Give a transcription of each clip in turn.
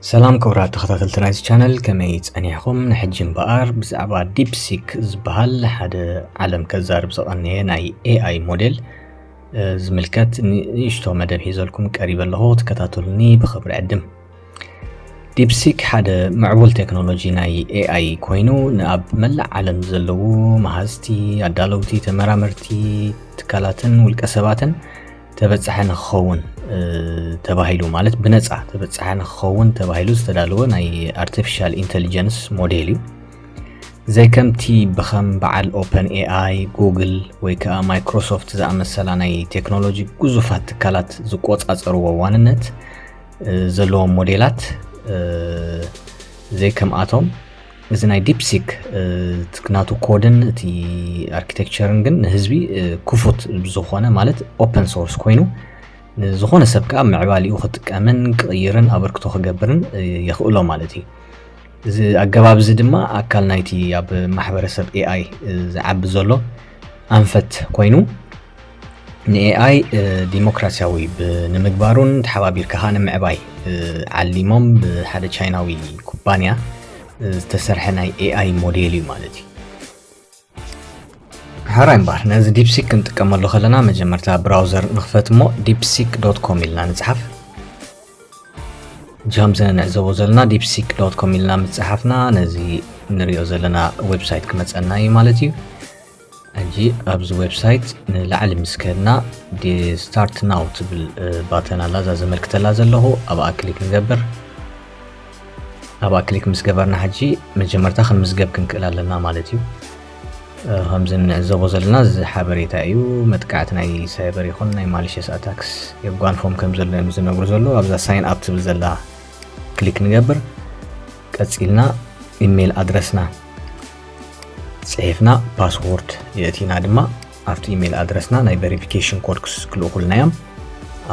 ሰላም ክቡራት ተኸታተልቲ ናይዚ ቻነል ከመይ ጸኒሕኹም? ንሕጂ እምበኣር ብዛዕባ ዲፕሲክ ዝበሃል ሓደ ዓለም ከዛርብ ዝቐነየ ናይ ኤኣይ ሞዴል ዝምልከት ንእሽቶ መደብ ሒዘልኩም ቀሪበ ኣለኹ ክትከታተሉኒ ብኽብሪ ዕድም። ዲፕሲክ ሓደ ምዕቡል ቴክኖሎጂ ናይ ኤኣይ ኮይኑ ንኣብ መላእ ዓለም ዘለዉ መሃዝቲ፣ ኣዳለውቲ፣ ተመራመርቲ፣ ትካላትን ውልቀ ሰባትን ተበፃሒ ንክኸውን ተባሂሉ ማለት ብነፃ ተበፃሒ ንክኸውን ተባሂሉ ዝተዳለወ ናይ ኣርቲፊሻል ኢንቴሊጀንስ ሞዴል እዩ ዘይከምቲ ብከም በዓል ኦፐን ኤኣይ ጉግል ወይ ከዓ ማይክሮሶፍት ዝኣመሰላ ናይ ቴክኖሎጂ ግዙፋት ትካላት ዝቆፃፀርዎ ዋንነት ዘለዎም ሞዴላት ዘይከምኣቶም እዚ ናይ ዲፕሲክ ናቱ ኮድን እቲ ኣርኪቴክቸርን ግን ንህዝቢ ክፉት ዝኾነ ማለት ኦፐን ሶርስ ኮይኑ ዝኾነ ሰብ ከዓ ምዕባሊኡ ክጥቀምን ክቕይርን ኣበርክቶ ክገብርን የኽእሎ ማለት እዩ እዚ ኣገባብ እዚ ድማ ኣካል ናይቲ ኣብ ማሕበረሰብ ኤኣይ ዝዓቢ ዘሎ ኣንፈት ኮይኑ ንኤኣይ ዲሞክራሲያዊ ንምግባሩን ተሓባቢርካ ከዓ ንምዕባይ ዓሊሞም ብሓደ ቻይናዊ ኩባንያ ዝተሰርሐ ናይ ኤኣይ ሞዴል እዩ ማለት እዩ ሓራይ እምበር ነዚ ዲፕሲክ ክንጥቀመሉ ከለና መጀመርታ ብራውዘር ንኽፈት እሞ ዲፕሲክ ዶት ኮም ኢልና ንፅሓፍ ጃም ዘንዕዘቦ ዘለና ዲፕሲክ ዶት ኮም ኢልና ምፅሓፍና ነዚ ንሪኦ ዘለና ዌብሳይት ክመፀና እዩ ማለት እዩ ሕጂ ኣብዚ ዌብሳይት ንላዕሊ ምስ ከድና ስታርት ናው ትብል ባተን ኣላ እዛ ዘመልክተላ ዘለኹ ኣብኣ ክሊክ ንገብር ኣብኣ ክሊክ ምስ ገበርና ሕጂ መጀመርታ ክንምዝገብ ክንክእል ኣለና ማለት እዩ ከምዚ እንዕዘቦ ዘለና እዚ ሓበሬታ እዩ መጥቃዕቲ ናይ ሳይበር ይኹን ናይ ማሊሸስ ኣታክስ የጓንፎም ከም ዘሎ እዮም ዝነግሩ ዘሎ ኣብዛ ሳይን ኣብ ትብል ዘላ ክሊክ ንገብር ቀፂልና ኢሜይል ኣድረስና ጽሒፍና ፓስዎርድ የእቲና ድማ ኣብቲ ኢሜል ኣድረስና ናይ ቨሪፊኬሽን ኮድ ክልእኹልና እዮም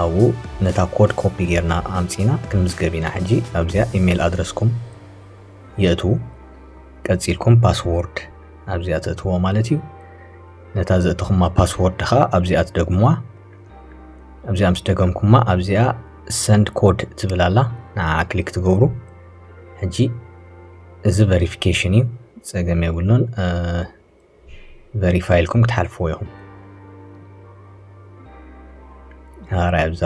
ኣብኡ ነታ ኮድ ኮፒ ጌርና ኣምፂና ክንምዝገብ ኢና ሕጂ ኣብዚኣ ኢሜል ኣድረስኩም የእቱ ቀፂልኩም ፓስዎርድ ኣብዚኣ ተእትዎ ማለት እዩ ነታ ዘእትኹማ ፓስዎርድ ከዓ ኣብዚኣ ትደግምዋ ኣብዚኣ ምስ ደገምኩማ ኣብዚኣ ሰንድ ኮድ ትብል ኣላ ንዓ ክሊክ ትገብሩ ሕጂ እዚ ቨሪፊኬሽን እዩ ፀገም የብሉን ቨሪፋይ ኢልኩም ክትሓልፍዎ ኢኹም ሃራይ ኣብዛ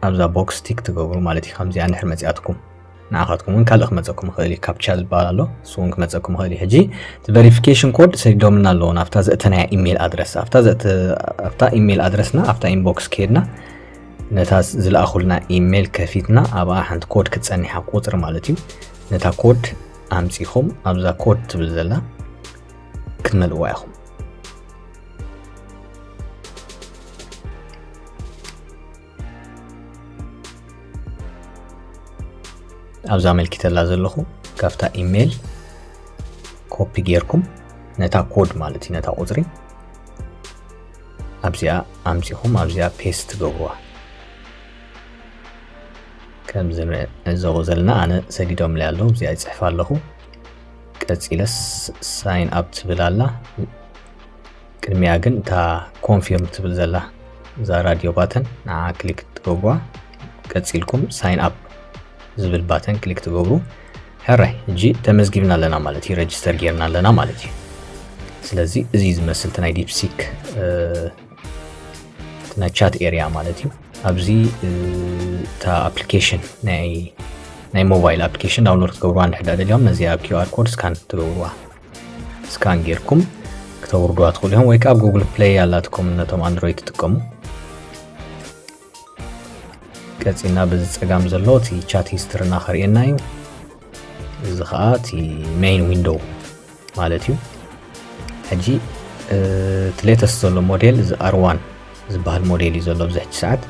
ኣብዛ ቦክስ ቲክ ትገብሩ ማለት እዩ ከምዚኣ ንድሕር መፅኣትኩም ንዓኻትኩም እውን ካልእ ክመፀኩም ይኽእል እዩ ካፕቻ ዝበሃል ኣሎ እሱ እውን ክመፀኩም ይኽእል እዩ ሕጂ እቲ ቨሪፊኬሽን ኮድ ሰዲዶምና ኣለዎ ናብታ ዘእተናያ ኢሜይል ኣድረስ ኣብታ ኢሜይል ኣድረስና ኣብታ ኢንቦክስ ከይድና ነታ ዝለኣኹልና ኢሜይል ከፊትና ኣብኣ ሓንቲ ኮድ ክትፀኒሓ ቁፅሪ ማለት እዩ ነታ ኮድ ኣምጺኹም ኣብዛ ኮድ ትብል ዘላ ክትመልእዋ ኢኹም ኣብዛ ኣመልኪተላ ዘለኹ ካብታ ኢሜይል ኮፒ ጌርኩም ነታ ኮድ ማለት እዩ ነታ ቁፅሪ ኣብዚኣ ኣምፂኹም ኣብዚኣ ፔስት ትገብርዋ ከምዚ ንዕዘቦ ዘለና ኣነ ሰዲዶምለይ ኣለዉ እዚኣ ይጽሕፍ ኣለኹ ቀጺለ ሳይን ኣብ ትብል ኣላ ቅድሚያ ግን እታ ኮንፊርም ትብል ዘላ እዛ ራድዮ ባተን ንዓ ክሊክ ትገብዋ ቀጺልኩም ሳይን ኣብ ዝብል ባተን ክሊክ ትገብሩ ሕራይ እጂ ተመዝጊብና ኣለና ማለት እዩ ረጅስተር ጌርና ኣለና ማለት እዩ ስለዚ እዚ ዝመስል ናይ ዲፕሲክ ናይ ቻት ኤርያ ማለት እዩ ኣብዚ እታ ኣፕሊኬሽን ናይ ሞባይል ኣፕሊኬሽን ዳውንሎድ ክትገብርዋ እንድሕዳ ደልዮም ነዚኣ ኪር ኮድ ስካን ትገብርዋ ስካን ጌርኩም ክተውርድዋ ትኽእሉ እዮም ወይ ከዓ ጉግል ፕሌይ ኣላትኩም ነቶም ኣንድሮይድ ትጥቀሙ ቀጺልና በዚ ጸጋም ዘሎ እቲ ቻት ሂስትርና ከርእየና እዩ እዚ ከዓ እቲ ሜይን ዊንዶው ማለት እዩ ሕጂ እቲ ሌተስት ዘሎ ሞዴል እዚ ኣርዋን ዝበሃል ሞዴል እዩ ዘሎ ኣብዚ ሕጂ ሰዓት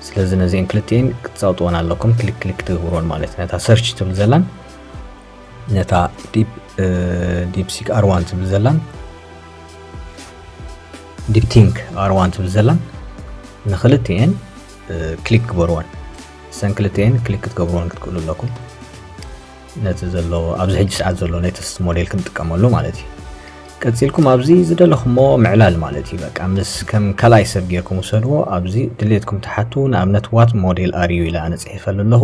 ስለዚ ነዚአን ክልቲኤን ክትፃውጥወን ኣለኩም ክሊክ ክሊክ ትገብርዎን ማለት ነታ ሰርች ትብል ዘላን ነታ ዲፕሲክ ኣርዋን ትብል ዘላን ዲፕቲንክ ኣርዋን ትብል ዘላን ንክልትኤን ክሊክ ግበርወን ሰን ክልትኤን ክሊክ ክትገብርወን ክትክእሉ ኣለኩም ነቲ ዘሎ ኣብዚ ሕጂ ሰዓት ዘሎ ናይ ተስት ሞዴል ክንጥቀመሉ ማለት እዩ ቀፂልኩም ኣብዚ ዝደለኹሞ ምዕላል ማለት እዩ በቃ ምስ ከም ካልኣይ ሰብ ጌርኩም ውሰድዎ ኣብዚ ድሌትኩም ትሓቱ ንኣብነት ዋት ሞዴል ኣርዩ ኢለ ኣነ ፅሒፈሉ ኣለኹ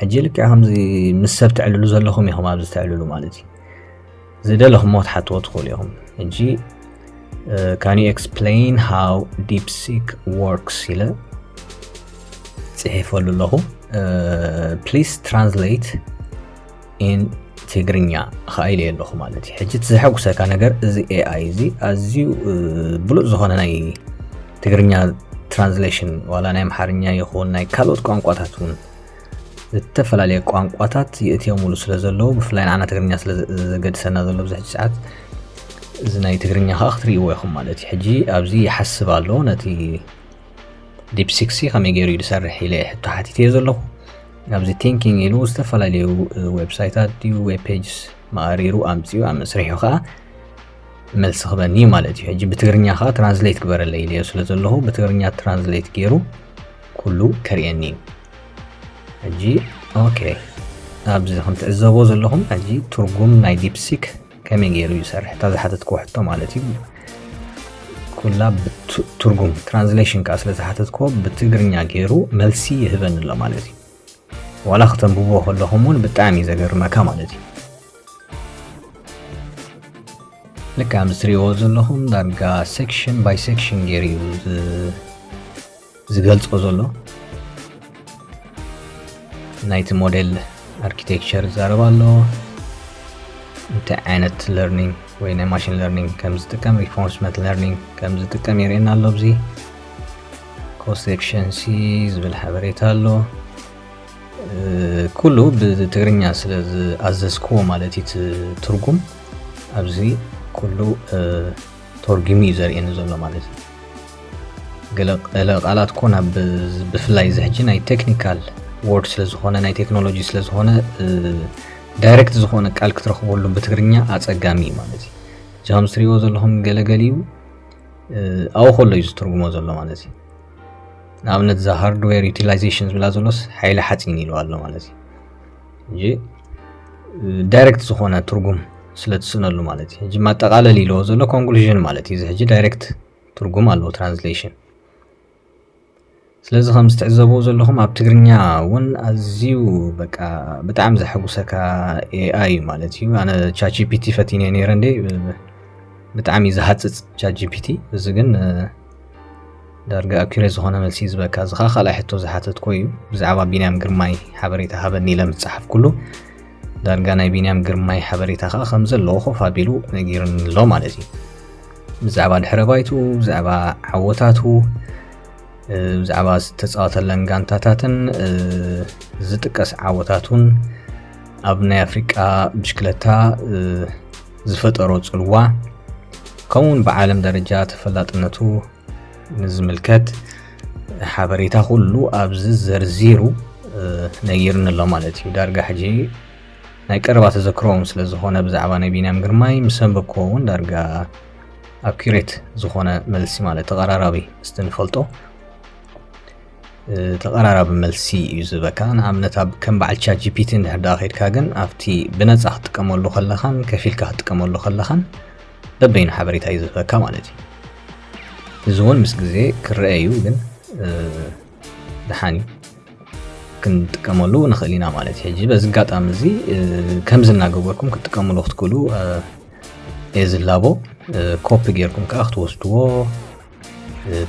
ሕጂ ልክዕ ከምዚ ምስ ሰብ ትዕልሉ ዘለኹም ኢኹም ኣብዚ ትዕልሉ ማለት እዩ ዝደለኹሞ ክትሓትዎ ትኽእሉ ኢኹም ሕጂ ካን ዩ ኤክስፕሌን ሃው ዲፕሲክ ወርክስ ኢለ ፅሒፈሉ ኣለኹ ፕሊስ ትራንስሌት ኢን ትግርኛ ኸኣ ኢለዮ ኣለኹ ማለት እዩ ሕጂ እቲ ዘሐጉሰካ ነገር እዚ ኤኣይ እዚ ኣዝዩ ብሉፅ ዝኾነ ናይ ትግርኛ ትራንስሌሽን ዋላ ናይ ኣምሓርኛ ይኹን ናይ ካልኦት ቋንቋታት እውን ዝተፈላለየ ቋንቋታት የእትዮምሉ ስለ ዘለዉ ብፍላይ ንዓና ትግርኛ ስለ ዘገድሰና ዘሎ ብዚ ሕጂ ሰዓት እዚ ናይ ትግርኛ ከዓ ክትርእይዎ ኢኹም ማለት እዩ ሕጂ ኣብዚ ይሓስብ ኣሎ ነቲ ዲፕሲክሲ ከመይ ገይሩ እዩ ዝሰርሕ ኢለ ሕቶ ሓቲተ ዘለኹ ኣብዚ ቲንኪንግ ኢሉ ዝተፈላለዩ ዌብሳይታት ድዩ ዌብ ፔጅስ መኣሪሩ ኣምፅኡ ኣብ መስርሑ ከዓ መልሲ ክበኒ እዩ ማለት እዩ ሕጂ ብትግርኛ ከዓ ትራንስሌት ግበረለ ኢለዮ ስለ ዘለኹ ብትግርኛ ትራንስሌት ገይሩ ኩሉ ከርእየኒ እዩ ሕጂ ኦኬ ኣብዚ ከምትዕዘቦ ዘለኹም ሕጂ ትርጉም ናይ ዲፕሲክ ከመይ ገይሩ ይሰርሕ እታ ዝሓተትክዎ ሕቶ ማለት እዩ ኩላ ብትርጉም ትራንስሌሽን ከዓ ስለ ዝሓተትክዎ ብትግርኛ ገይሩ መልሲ ይህበኒ ኣሎ ማለት እዩ ዋላ ክተንብቦ ከለኹም እውን ብጣዕሚ እዩ ዘገርመካ ማለት እዩ ልክዕ ምስ ትሪእዎ ዘለኹም ዳርጋ ሴክሽን ባይ ሴክሽን ገይሩ እዩ ዝገልጾ ዘሎ ናይቲ ሞዴል ኣርኪቴክቸር ይዛረብ ኣሎ እንታይ ዓይነት ለርኒንግ ወይ ናይ ማሽን ለርኒንግ ከም ዝጥቀም ሪፎርስመንት ለርኒንግ ከም ዝጥቀም የርእየና ኣሎ ኣብዚ ኮስት ኤክሽንሲ ዝብል ሓበሬታ ኣሎ ኩሉ ብትግርኛ ስለ ዝኣዘዝክዎ ማለት እዩ ትርጉም ኣብዚ ኩሉ ተርጉሙ እዩ ዘርእየኒ ዘሎ ማለት እዩ ገለ ገለ ቃላት ኮ ናብ ብፍላይ እዚ ሕጂ ናይ ቴክኒካል ወርድ ስለ ዝኾነ ናይ ቴክኖሎጂ ስለ ዝኾነ ዳይሬክት ዝኾነ ቃል ክትረኽበሉ ብትግርኛ ኣጸጋሚ እዩ ማለት እዩ እዚ ከም ዝትሪእዎ ዘለኹም ገለገሊኡ ኣብኡ ከሎ እዩ ዝትርጉሞ ዘሎ ማለት እዩ ንኣብነት እዛ ሃርድዌር ዩቲላይዜሽን ዝብላ ዘሎስ ሓይሊ ሓፂን ኢልዋ ኣሎ ማለት እዩ እንጂ ዳይሬክት ዝኾነ ትርጉም ስለ ትስእነሉ ማለት እዩ ሕጂ ማጠቃለል ኢለዎ ዘሎ ኮንክሉዥን ማለት እዩ እዚ ሕጂ ዳይሬክት ትርጉም ኣለዎ ትራንስሌሽን ስለዚ ከም ዝትዕዘብዎ ዘለኹም ኣብ ትግርኛ እውን ኣዝዩ በቃ ብጣዕሚ ዘሐጉሰካ ኤኣይ እዩ ማለት እዩ ኣነ ቻጂፒቲ ፈቲነ ነይረ እንዴ ብጣዕሚ ዝሃፅፅ ቻጂፒቲ እዚ ግን ዳርጋ ኣኪሬ ዝኾነ መልሲ እዩ ዝበካ እዚ ኸዓ ካልኣይ ሕቶ ዝሓተትኮ እዩ ብዛዕባ ቢንያም ግርማይ ሓበሬታ ሃበኒ ኢለ ምስ ጸሓፍኩሉ ዳርጋ ናይ ቢንያም ግርማይ ሓበሬታ ከዓ ከም ዘለዎ ኮፍ ኣቢሉ ነጊርኒ ኣሎ ማለት እዩ ብዛዕባ ድሕረ ባይቱ ብዛዕባ ዓወታቱ ብዛዕባ ዝተፃወተለን ጋንታታትን ዝጥቀስ ዓወታቱን ኣብ ናይ ኣፍሪቃ ብሽክለታ ዝፈጠሮ ጽልዋ ከምኡውን ብዓለም ደረጃ ተፈላጥነቱ ንዝምልከት ሓበሬታ ኩሉ ኣብዚ ዘርዚሩ ነጊርኒ ኣሎ ማለት እዩ ዳርጋ ሕጂ ናይ ቀረባ ተዘክሮም ስለ ዝኾነ ብዛዕባ ናይ ቢንያም ግርማይ ምስ ኣንበብክዎ እውን ዳርጋ ኣኪሬት ዝኾነ መልሲ ማለት ተቐራራቢ ስትንፈልጦ ተቐራራቢ መልሲ እዩ ዝበካ ንኣብነት ኣብ ከም በዓል ቻት ጂፒቲ እንድሕር ደኣ ከድካ ግን ኣብቲ ብነፃ ክትጥቀመሉ ከለኻን ከፊልካ ክትጥቀመሉ ከለኻን በበይኑ ሓበሬታ እዩ ዝህበካ ማለት እዩ እዚ እውን ምስ ግዜ ክረአ እዩ ግን ደሓን እዩ ክንጥቀመሉ ንኽእል ኢና ማለት እዩ ሕጂ በዚ ኣጋጣሚ እዚ ከምዚ እናገበርኩም ክትጥቀምሉ ክትክእሉ እየ ዝላቦ ኮፒ ጌርኩም ከዓ ክትወስድዎ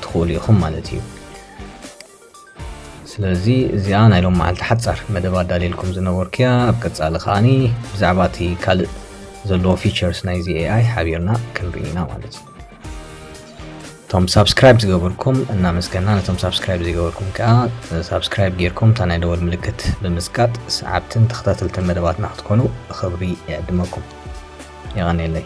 ትኽእሉ ኢኹም ማለት እዩ ስለዚ እዚኣ ናይ ሎም መዓልቲ ሓፃር መደብ ኣዳልየልኩም ዝነበርኩ እያ ኣብ ቀፃሊ ከዓኒ ብዛዕባ እቲ ካልእ ዘለዎ ፊቸርስ ናይዚ ኤኣይ ሓቢርና ክንርኢ ኢና ማለት እዩ እቶም ሳብስክራይብ ዝገበርኩም እናመስገና ነቶም ሳብስክራይብ ዘይገበርኩም ከዓ ሳብስክራይብ ጌርኩም እታ ናይ ደወል ምልክት ብምስቃጥ ሰዓብትን ተኸታተልትን መደባትና ክትኮኑ ብኽብሪ ይዕድመኩም የቐንየለይ